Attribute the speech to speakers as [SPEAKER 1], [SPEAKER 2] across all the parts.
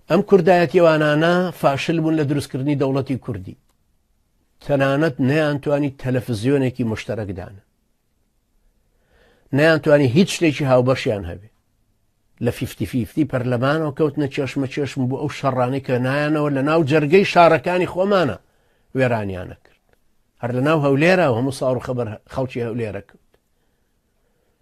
[SPEAKER 1] ئەم کوردایەتیوانانە فاشل بوون لە دروستکردنی دەوڵەتی کوردی تەنانەت نەیانتوانی تەلەفزیۆنێکی مشتەرەکدان نەیانتوانی هیچ شتێکی هاوبەشیان هەبێ لە فیفتی فیفتی پەرلەمانەوە کەوتنە چێشمە چێشم بۆ ئەو شەڕانی کە نایەنەوە لە ناو جەرگەی شارەکانی خۆمانە وێرانیانە کرد هەر لە ناو هەولێرە هەموو ساڕ خەبەر خەڵکی هەولێرە کرد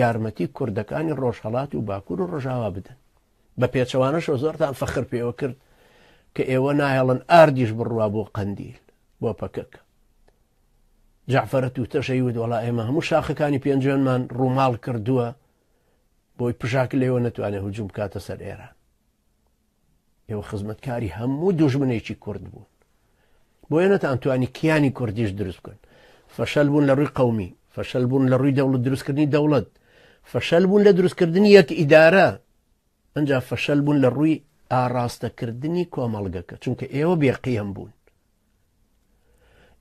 [SPEAKER 1] یارمەتی کوردەکانی ڕۆژهەڵات و باکور و ڕۆژاوا بدەن بە پێچەوانەشەوە زۆرتان فەخر پێوە کرد کە ئێوە نایەڵن ئاردیش بڕوا بۆ قەندیل بۆ پەکەکە جعفرە تووتەشەی ود وەڵا ئێمە هەموو شاخەکانی پێنجێنمان ڕووماڵ کردووە بۆی پژاک لێوە نەتوانێت هجووم بکاتە سەر ئێران ئێوە خزمەتکاری هەموو دوژمنێکی کورد بوون بۆیە نەتانتوانی کیانی کوردیش دروست بکەن فەشەل بوون لە ڕووی قومی فەشەل بوون لە ڕووی دەوڵەت دروستکردنی دەوڵەت فەشەل بوون لە دروستکردنی یەک ئیدارە ئەجا فەشەل بوون لە ڕووی ئاراستەکردنی کۆمەڵگەکە چونکە ئێوە بێقیەم بوون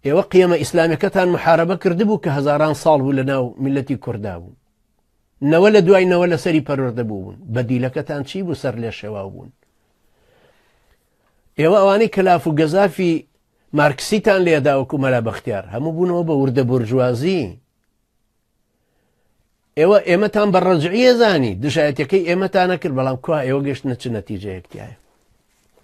[SPEAKER 1] ئێوە قیەمە ئیسلامەکەتان محاربە کردبوو کە هەزاران ساڵ بوو لە ناو میلەتی کووردا بوو نەوە لە دوای نەوە لە سەری پەرۆردە بوون بە دیلەکەتان چی بوو سەر لێ شێواو بوون ئێوە ئەوانەی کەلاف و گەزافی مارکسیتان لێداوەکو مەلا بەختیار هەموو بوونەوە بە وردە بورجوازی ئێوە ئێمەتان بە ڕەجعە زانی دژایەتەکەی ئێمەتانە کرد بەڵام کوا ئێوە گەشتە چ نەتیجەیەکتیایە